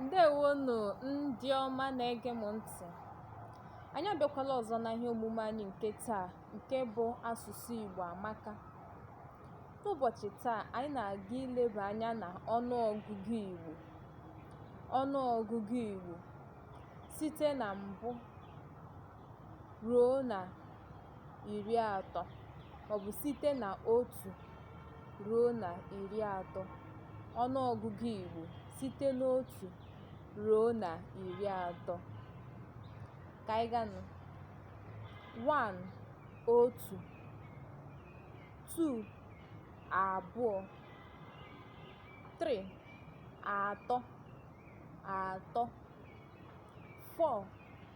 ǹdeèwonù ndị ọma na-ege m ntị̀ anyị abịakwala ọ̀zọ na ihe omume anyị nke taa nke bụ asụ̀sụ ìgbò àmaka n'ụbọ̀chị̀ taa anyị na-aga ileba anya na ọnụọgụgụ ìgbò ọnụọgụgụ ìgbò site na mbụ ruo na iri atọ maọbụ site na otu ruo na iri atọ ọnụọgụgụ Igbo site n'otu ruo na iri atọ ka anyị ganụ one otu two abụọ three atọ atọ four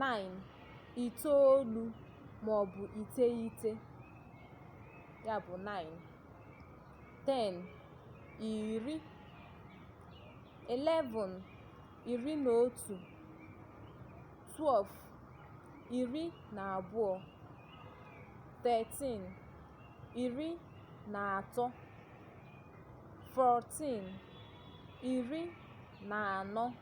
nine itoolu maọbụ iteghete ya bụ nine ten iri eleven iri na otu twelve iri na abụọ thirteen iri na atọ fourteen iri na anọ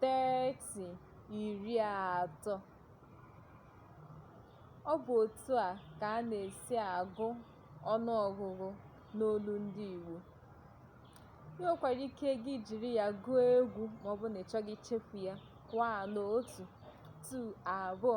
30 iri atọ ọ bụ otu a ka a na-esi agụ ọnụ ọgụgụ n'olu ndị Igbo i nwekwara ike gị jiri ya gụọ egwu ma ọ bụrụ na ị chọghị ichefu ya one otu two abụọ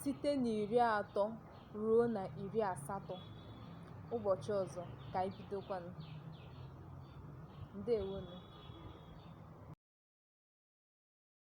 site n'iri atọ ruo na iri asatọ ụbọchị ọzọ ka anyị bidokwanụ ndewonụ